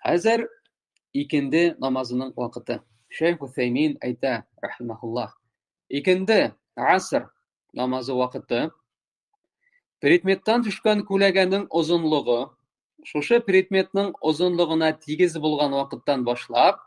Хәзер икенде намазының вакыты. Шейх Уфәймин әйтә, рахимахуллах, икенде аср намазы вакыты предметтан төшкән күләгәнең озынлыгы шушы предметның озынлыгына тигез булган вакыттан башлап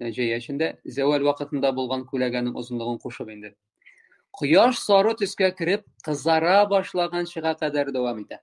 җәй эчендә зәвәл вакытында булган күләгәнең озынлыгын кушып инде кояш сары төскә кереп кызара башлаганчыга кадәр дәвам итә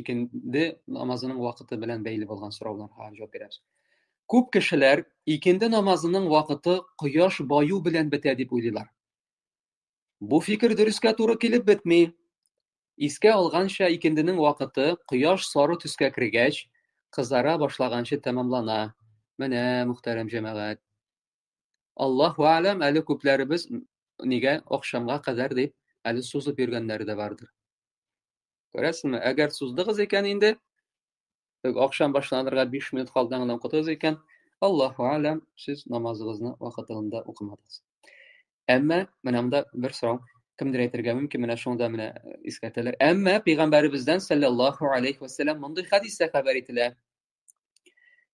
икенде намазының вакыты белән бәйле булган сорауларга җавап бирәбез күп кешеләр икенде намазының вакыты кояш баю белән бетә дип уйлыйлар бу фикер дөрескә туры килеп бетми искә алганча икенденең вакыты кояш сары төскә кергәч кызара башлаганчы тәмамлана менә мөхтәрәм җәмәгать аллаһу әләм әле күпләребез нигә акшамга кадәр дип әле сузып йөргәннәре дә бардыр Күрәсеңме, әгәр суздыгыз икән инде, акшам башланырга 5 минут калдан гына укытыгыз икән, Аллаһу алям, сез намазыгызны вакытында укымадыгыз. Әмма менә монда бер сорау кемдер әйтергә мөмкин, менә шунда менә э, искәртәләр. Әмма пәйгамбәребездән саллаллаһу алейхи ва саллям мондый хадистә хәбәр ителә.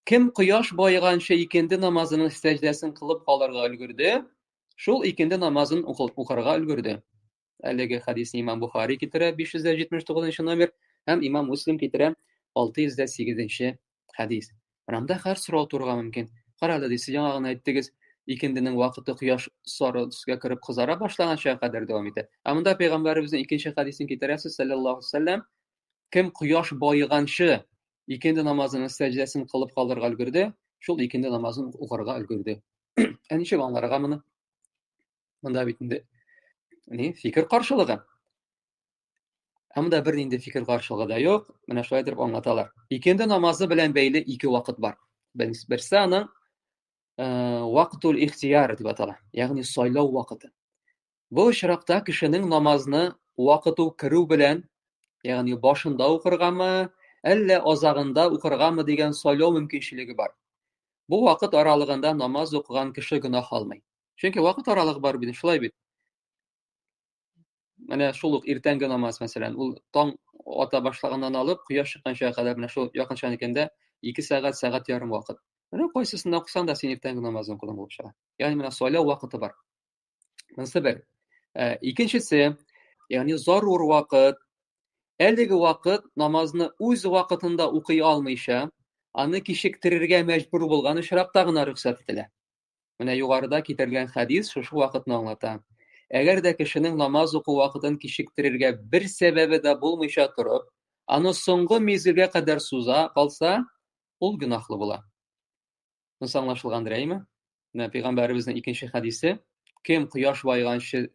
Кем кояш баеганча икенде намазының сәҗдәсен кылып калырга өлгерде, шул икенде намазын укырга өлгерде. Әлеге хәдисне имам Бухари китерә 579 номер һәм имам Муслим китерә 608 хәдис. Рамда хәр сорау турга мөмкин. Кара әле, сез яңа гына әйттегез, икенденең вакыты кояш сары төскә кереп кызара башлаганча кадәр дәвам итә. Ә монда пәйгамбәребезнең икенче хәдисен китерәсез, саллаллаху алейһи кем кояш баеганчы икенде намазының сәҗдәсен кылып калырга өлгерде, шул икенде намазын укырга өлгерде. Ә ничек аңларга моны? мында бит инде ни фикер каршылыгы ә монда бер нинди фикер каршылыгы да юк менә шулай итеп аңлаталар икенде намазы белән бәйле ике вакыт бар берсе аның э, вакытул ихтияр дип атала ягъни сайлау вакыты бу очракта кешенең намазны вакыту керү белән ягъни башында укыргамы әллә азагында укыргамы дигән сайлау мөмкинчелеге бар бу вакыт аралыгында намаз укыган кеше гөнаһ алмый чөнки вакыт аралыгы бар бит шулай бит менә шул ук иртәнге намаз мәсәлән ул таң ата башлаганнан алып кояш чыкканча кадәр менә шул якынча икәндә ике сәгать сәгать ярым вакыт менә кайсысында укысаң да син иртәнге намазны укыдың булып чыга ягъни менә сайлау вакыты бар монысы бер ә, икенчесе ягъни зарур вакыт әлеге вакыт намазны үз вакытында укый алмыйча аны кичектерергә мәҗбүр булган очракта гына рөхсәт ителә Менә югарыда китерелгән хәдис шушы вакытны аңлата. Әгәр дә кешенең намаз уку вакытын кичектерергә бер сәбәбе дә булмыйча торып, аны соңгы мизгелгә кадәр суза калса, ул гөнаһлы була. Мунс аңлашылгандыр, әйме? Менә пәйгамбәребезнең икенче хәдисе, кем кояш байганчы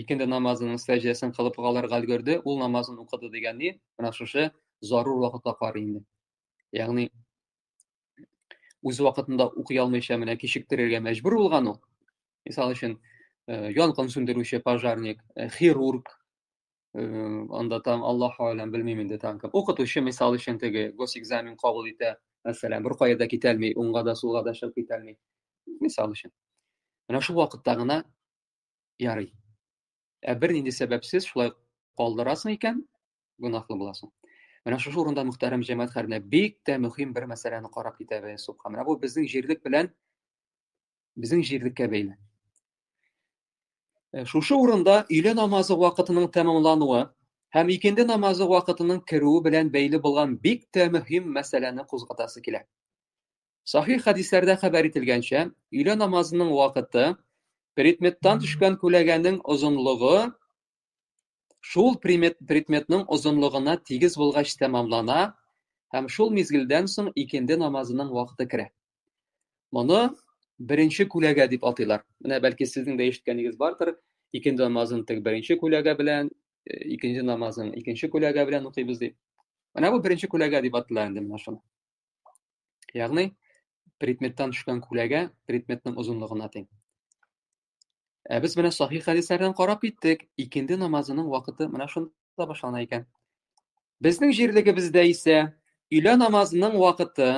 икенде намазының сәҗдәсен кылып калырга өлгерде, ул намазын укыды дигән ни? Менә шушы зарур вакытта карый инде. Ягъни үз вакытында укый алмыйча менә кичектерергә мәҗбүр булган ул. Мисал өчен, э, янгын сүндерүче пожарник, э, хирург, э, анда там Аллаһ алам белмим инде там кем. Укытучы мисал өчен теге госэкзамен кабул итә, мәсәлән, бер кая да китә алмый, уңга да сулга да чыгып китә алмый. Мисал өчен. Менә шул вакытта гына ярый. Ә бернинди сәбәпсез шулай калдырасың икән, гөнаһлы буласың. Менә шушы урында мөхтәрәм җәмәгать хәренә бик тә мөһим бер мәсьәләне карап китәбез, субхан. Менә бу безнең җирлек белән безнең җирлеккә бәйле. Э, шушы урында өйле намазы вакытының тәмамлануы һәм икенде намазы вакытының керүе белән бәйле булган бик тә мөһим мәсьәләне кузгатасы килә. Сахих хәдисләрдә хәбәр ителгәнчә, өйле намазының вакыты предметтан төшкән күләгәнең озынлыгы шул предметның озынлыгына тигез булгач тәмамлана һәм шул мизгелдән соң икенде намазының вакыты керә. Моны беренче күләгә дип атыйлар. Менә бәлки сезнең дә ишеткәнегез бардыр, икенде намазын тек беренче күләгә белән, э, икенче намазын икенче күләгә белән укыйбыз дип. Менә бу беренче күләгә дип атыла инде менә шуны. Ягъни предметтан төшкән күләгә предметның озынлыгына тиң. Ә без менә сахих хәдисләрдән карап киттек, икенде намазының вакыты менә шунда башлана икән. Безнең җирлегебездә исә өйлә намазының вакыты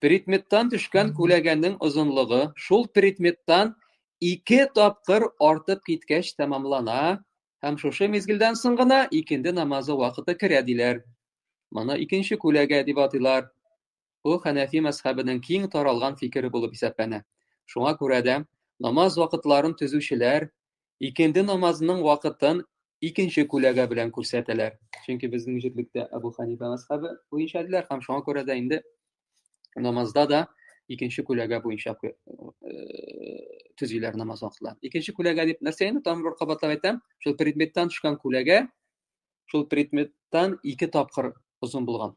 предметтан төшкән күләгәнең озынлыгы шул предметтан ике тапкыр артып киткәч тәмамлана һәм шушы мизгелдән соң гына икенде намазы вакыты керә диләр. Моны икенче күләгә дип атыйлар. Бу хәнәфи мәзхәбенең киң таралган фикере булып исәпләнә. Шуңа күрә дә намаз вакытларын төзүчеләр икенде намазының вакытын икенче күләгә белән күрсәтәләр. Чөнки безнең җирлектә Абу Ханифа мәзхәбе буенча диләр һәм шуңа күрә дә инде намазда да икенче күләгә буенча э, төзиләр намаз вакытларын. Икенче күләгә дип нәрсә инде тагын бер кабатлап әйтәм, шул предметтан төшкән күләгә шул предметтан ике тапкыр озын булган.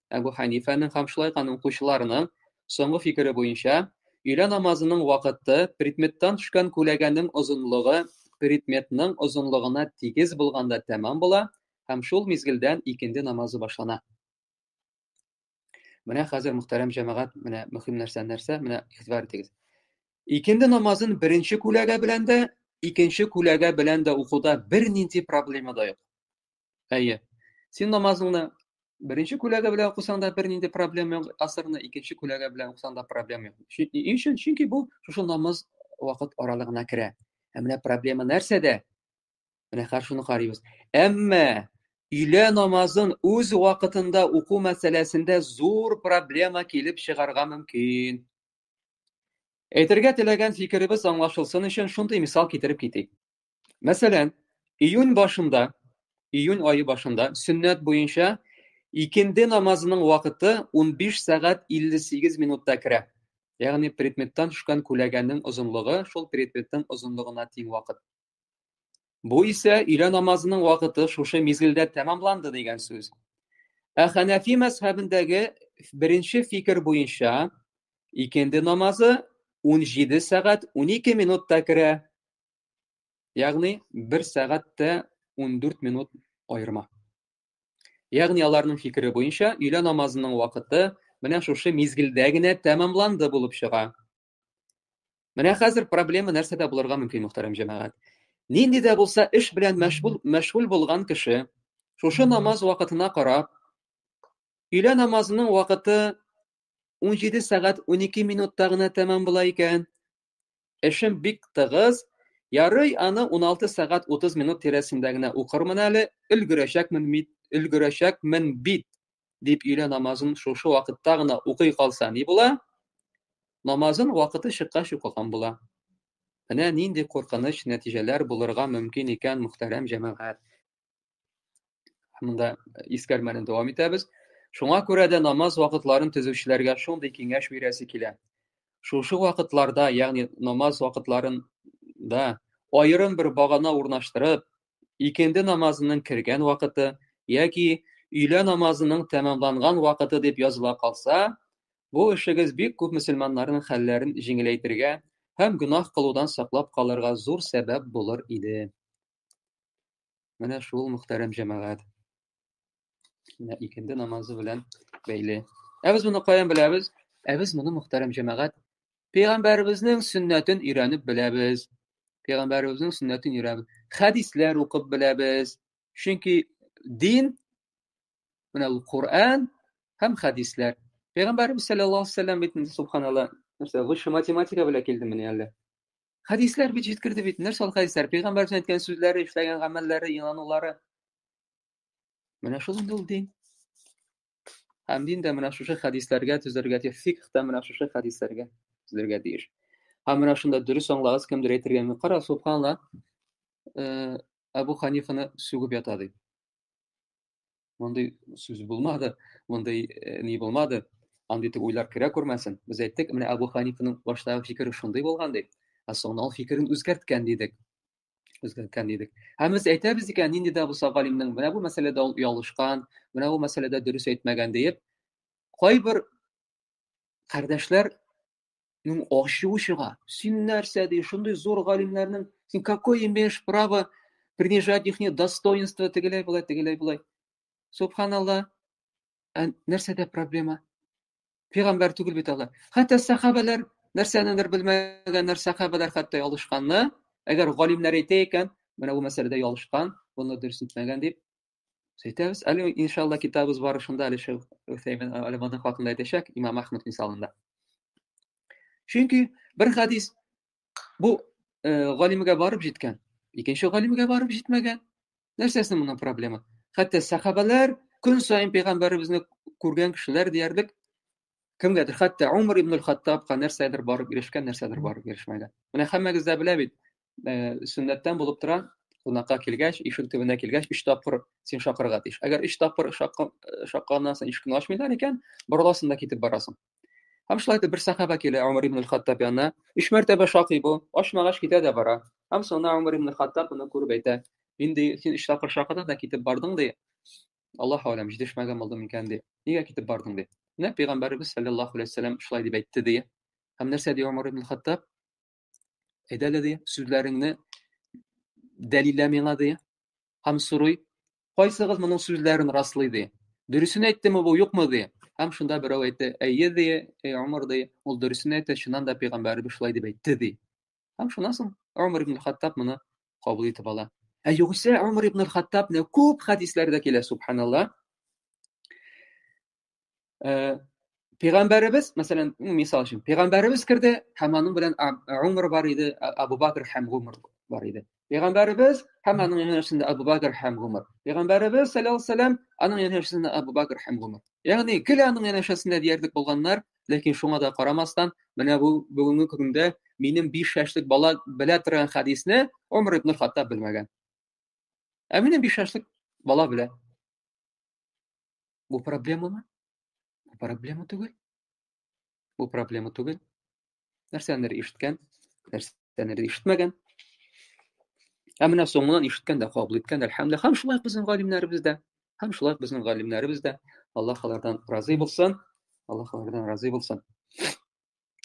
Әбу Хәнифәнең һәм шулай ук аның укучыларының соңгы фикере буенча, өйлә намазының вакыты предметтан төшкән күләгәнең озынлыгы предметның озынлыгына тигез булганда тәмам була һәм шул мизгелдән икенде намазы башлана. Менә хәзер мөхтәрәм җәмәгать, менә мөһим нәрсә нәрсә, менә игътибар итегез. Икенде намазын беренче күләгә белән дә, икенче күләгә белән дә укуда бернинди проблема да юк. Әйе. Син намазыңны беренче күләгә белән укысаң да бернинди проблема юк, асырны икенче күләгә белән укысаң да проблема юк. Ни өчен? Чөнки бу шушы намаз вакыт аралыгына керә. Ә менә проблема нәрсәдә? Менә хәзер шуны карыйбыз. Әмма өйлә намазын үз вакытында уку мәсьәләсендә зур проблема килеп чыгарга мөмкин. Әйтергә теләгән фикеребез аңлашылсын өчен шундый мисал китереп китик. Мәсәлән, июнь башында, июнь айы башында сөннәт буенча икенде намазының вакыты 15 сәгать 58 минутта керә. Ягъни предметтан төшкән күләгәнең озынлыгы шул предметтың озынлыгына тиң вакыт. Бу исә өйлә намазының вакыты шушы мизгелдә тәмамланды дигән сүз. Ә Хәнәфи мәзһәбендәге беренче фикер буенча икенде намазы 17 сәгать 12 минутта керә Ягъни 1 сәгать тә 14 минут аерма. Ягъни аларның фикере буенча өйлә намазының вакыты менә шушы мизгелдә генә тәмамланды булып чыга. Менә хәзер проблема нәрсәдә булырга мөмкин, мөхтәрәм җәмәгать? Нинди дә булса эш белән мәшгуль мәшгуль булган кеше шушы намаз вакытына карап өйлә намазының вакыты 17 сәгать 12 минутта гына тәмам була икән. Эшем бик тыгыз, ярый аны 16 сәгать 30 минут тирәсендә генә укырмын әле, өлгерәчәкмен бит, өлгерәчәкмен бит, дип өйлә намазын шушы вакытта гына укый калса ни була? Намазын вакыты чыккач укыган була. Менә нинди куркыныч нәтиҗәләр булырга мөмкин икән, мөхтәрәм җәмәгать. Монда э, искәрмәне дәвам итәбез. Шуңа күрә дә намаз вакытларын төзүчеләргә шундый киңәш бирәсе килә. Шушы вакытларда, ягъни намаз вакытларында аерым бер багана урнаштырып, икенде намазының кергән вакыты яки өйлә намазының тәмамланган вакыты дип языла калса, бу эшегез бик күп мөселманнарның хәлләрен җиңеләйтергә һәм гөнаһ кылудан саклап калырга зур сәбәп булыр иде. Менә шул мөхтәрәм җәмәгать. Менә икенде намазы белән бәйле. Ә без моны каян беләбез? Ә без моны мөхтәрәм җәмәгать пәйгамбәребезнең сөннәтен өйрәнеп беләбез. Пәйгамбәребезнең сөннәтен өйрәнеп, хәдисләр укып беләбез. Чөнки дин менә ул Коръән һәм хәдисләр. Пәйгамбәребез саллаллаһу алейһи ва саллям бит инде субханалла, нәрсә, высшая математика белән килдемени әллә? Хәдисләр бит җиткерде бит. Нәрсә ул хәдисләр? Пәйгамбәрнең әйткән сүзләре, эшләгән гамәлләре, инанулары. Менә шул инде ул дин. Һәм дин дә менә шушы хәдисләргә төзәргә тиеш, фикх та менә шушы хәдисләргә төзәргә тиеш. Һәм менә шунда дөрес аңлагыз, кемдер әйтергә мөмкин. Кара, субханла, э, Абу Ханифаны сүгеп ята ди. мондый сүз булмады, мондый э, ни булмады, андый итеп уйлар керә күрмәсен. Без әйттек, менә Абу Ханифаның баштагы фикере шундый булган дип, ә соңыннан ул фикерен үзгәрткән дидек. Үзгәрткән дидек. Һәм без әйтәбез икән, нинди дә булса галимнең менә бу мәсьәләдә ул ялышкан, менә бу мәсьәләдә дөрес әйтмәгән диеп, кайбер кардәшләр Ну, ачуы чыга. Син нәрсә ди, шундый зур галимнәрнең, син какой имеешь право принижать их достоинство, тегеләй болай, тегеләй болай. Субханалла, ә нәрсәдә проблема? Пигамбәр түгел бит алар. Хәтта сахабалар нәрсәнедер белмәгәннәр, сахабалар хәтта ялышканны. Әгәр галимнәр әйтә икән, менә бу мәсьәләдә ялышкан, буны дөрес итмәгән дип, Сөйтәбез. Әле иншалла китабыз барышында әле шул Үсәймен алиманы хакында әйтәчәк Имам Ахмад мисалында. Чөнки бер хадис бу э, галимгә барып җиткән, икенче галимгә барып җитмәгән. Нәрсәсе моның проблема? Хәтта сахабалар көн саен пәйгамбәребезне күргән кешеләр диярлек кемгәдер хәтта умар ибн хаттабка нәрсәдер барып ирешкән нәрсәдер барып ирешмәгән менә һәммәгез дә белә бит э, сөннәттән булып тора кунакка килгәч ишек төбенә килгәч өч тапкыр син шакырырга тиеш әгәр өч тапкыр шакканнан э, соң ишекне ачмыйлар икән борыласың да китеп барасың һәм шулай итеп бер сахаба килә умар ибн хаттаб янына өч мәртәбә шакый бу ачмагач китә дә бара һәм соңына умар ибн хаттаб моны күреп әйтә инде син өч тапкыр шакыдың да китеп бардың ди Аллаһ алем, җитешмәгән булды микән ди. Нигә китеп бардың ди. Менә пәйгамбәребез саллаллаху алейһи вәсәлләм шулай дип әйтте ди. Һәм нәрсә ди Умар ибн Хаттаб? Әйдә әле ди, сүзләреңне дәлиллә миңа ди. Һәм сорый, кайсыгыз моның сүзләрен раслый ди. Дөресен әйттеме бу, юкмы ди. Һәм шунда берәү әйтте, әйе ди, әй Умар ди, ул дөресен әйтте, чыннан да пәйгамбәребез шулай дип әйтте ди. Һәм шуннан соң Омар ибн Хаттаб моны кабул итеп ала. Ә югыйсә Омар ибн Хаттабны күп хәдисләрдә килә, субханалла. Э, пәйгамбәребез, мәсәлән, мисал өчен, пәйгамбәребез керде һәм аның белән Омар бар иде, Абу Бакр һәм Омар бар иде. Пәйгамбәребез һәм аның янәшәсендә Абу Бәкер һәм Гомәр. Пәйгамбәребез саллаллаһу алейһи вәсәлләм аның янәшәсендә Абу Бәкер һәм Гомәр. Ягъни икеле аның янәшәсендә диярлек булганнар, ләкин шуңа да карамастан, менә бу бүгенге көндә минем 5 яшьлек бала белә торган хәдисне Умар ибн Хаттаб белмәгән. Ә минем 5 яшьлек бала белә. Бу проблемамы? Бу проблема түгел. Бу проблема түгел. нәрсәнер ишеткән нәрсәнер ишетмәгән ә менә соңыннан ишеткән дә кабул иткән әлхәмдулилла һәм шулай безнең галимнәребез дә һәм шулай безнең галимнәребез дә аллаһ алардан разый булсын аллаһ алардан разый булсын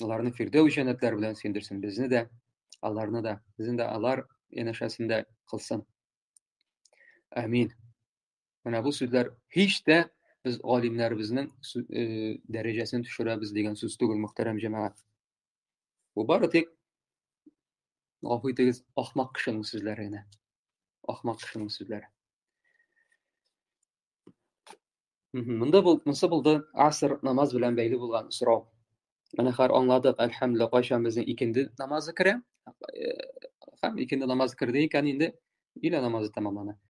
аларны фирдәү җәннәтләре белән сөендерсен безне дә аларны да безне дә алар янәшәсендә кылсын әмин Менә бу сүзләр һич тә без галимнәребезнең дәрәҗәсен төшерәбез дигән сүз түгел, мөхтәрәм җәмәгать. Бу бары тик гафу итегез, ахмак кешенең сүзләре генә. Ахмак кешенең сүзләре. Монда бул, монсы булды аср намаз белән бәйле булган сорау. Менә хәр аңладык, әлхәмдүлилла, кайчан безнең икенде намазы керә? Һәм икенде намазы керде икән инде, илә намазы тәмамлана.